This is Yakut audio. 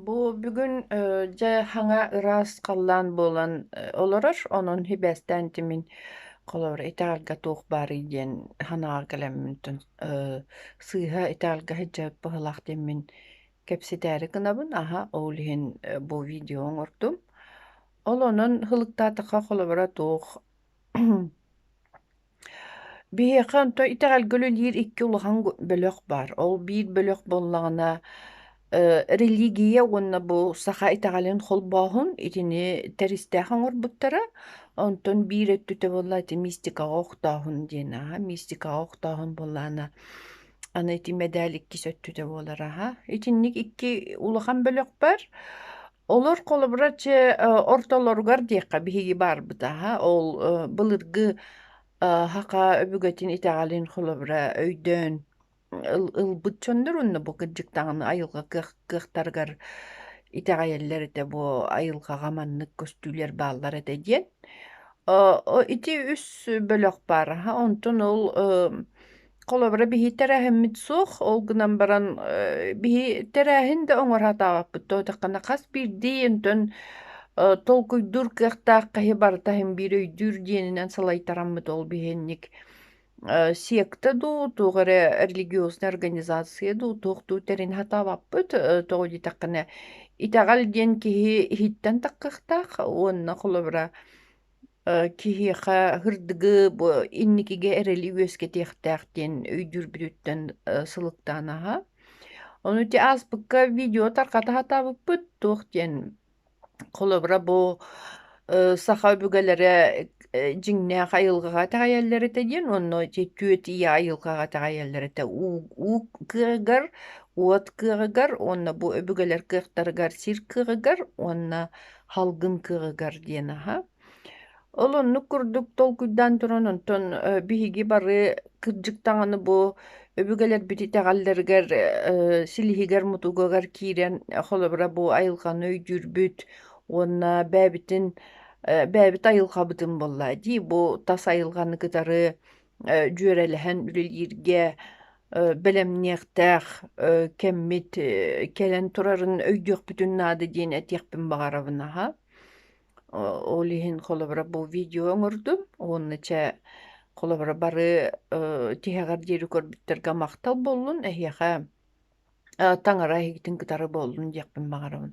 Бу бүгүн э, дьэ хаҥа ыраас халлаан буолан э, олорор, онон сибээстээн тимин холобура итэҕэлгэ туох баарый диэн санаҕа кэлэммитин э, сыыһа итэҕэлгэ сылдьыбыт быһыылаах диэммин кэпсэтээри гынабын, аһа ол иһин э, бу видео оҥордум. Ол онон сылыктаатахха холобура туох Биһиэхэ онто итэҕэлгэ үлэлиир икки улахан бөлөх баар. Ол биир бөлөх буоллаҕына религия уонна бу саха итэҕэлин холбооһун итини тэристээх оҥорбуттара. Онтон биир өттүтэ буолла ити мистикаҕа охтооһун диэн аһа. Мистикаҕа охтооһун буоллаҕына аны ити мэдээл иккис өттүтэ буолар аһа. Итинник икки улахан бөлөх бар. Олор холобура чэ э, ортолоругар диэххэ биһиги баарбыт аһа ол э, былыргы э, хаха өбүгэтин итэҕэлин холобура өйдөөн ыл- ылбыт чоннор онно бу кырдьыктаҕына айылҕа кыах кыахтарыгар итэҕэйэллэр этэ бу айылҕаҕа маннык көстүүлэр бааллар этэ диэн. Э, о- ити үс бөлөх баар аһа онтон ол э, Холобура, биһи тэрээһиммит суох, ол гынан баран э, биһи тэрээһин да оҥоро сатаабаппыт туотаххана хас биирдии онтон э, толкуйдуур кыахтаах хаһы барыта иһин биир өйдүүр диэнинэн салайтараммыт ол биһинник э, секта дуу, туох эрэ религиознай организация дуу, туох дуу тэрин сатаабаппыт, э, тоҕо диэтэххинэ итэҕэл диэн киһи иһиттэн таххахтаах уонна холобура Киһиэхэ һырдыгы бу инникигэ эрэли үөскэтиэхтээх диэн өйдүүрбүтүттэн сылыктаан аһа. Ону ити ааспыкка видео тарҕата сатаабыппыт туох диэн холобура бу саха өбүгэлэрэ дьиҥнээх айылҕаҕа итэҕэйэллэр этэ диэн уонна ити түөт ийэ айылҕаҕа итэҕэйэллэр этэ. уу уу кыаҕыгар, уот кыаҕыгар уонна бу өбүгэлэр кыахтарыгар сир кыаҕыгар уонна Халгын кыгыгар диэн аһа. Ол оннук курдук толкуйдаан туран, онтон э, биһиги бары кырдьык даҕаны бу өбүгэлэрбит итэҕэллэригэр, э, силиһигэр-мутугугар киирэн, э, холобура бу айылҕаны өйдүүрбүт уонна бэйэбитин, э, бэйэбит айылҕабытын буолла дии, бу тас айылҕаны кытары дьүөрэлэһэн үлэлииргэ бэлэмниэхтээх кэммит кэлэн турарын өйдүөхпүтүн наада диэн этиэхпин баҕарабын аһа. Ол иһин холобура бу видео оҥордум уонна чэ холобура бары тиһэҕэр диэри көрбүттэргэ махтал буоллун эһиэхэ таҥара иһигитин кытары буоллун диэхпин баҕарабын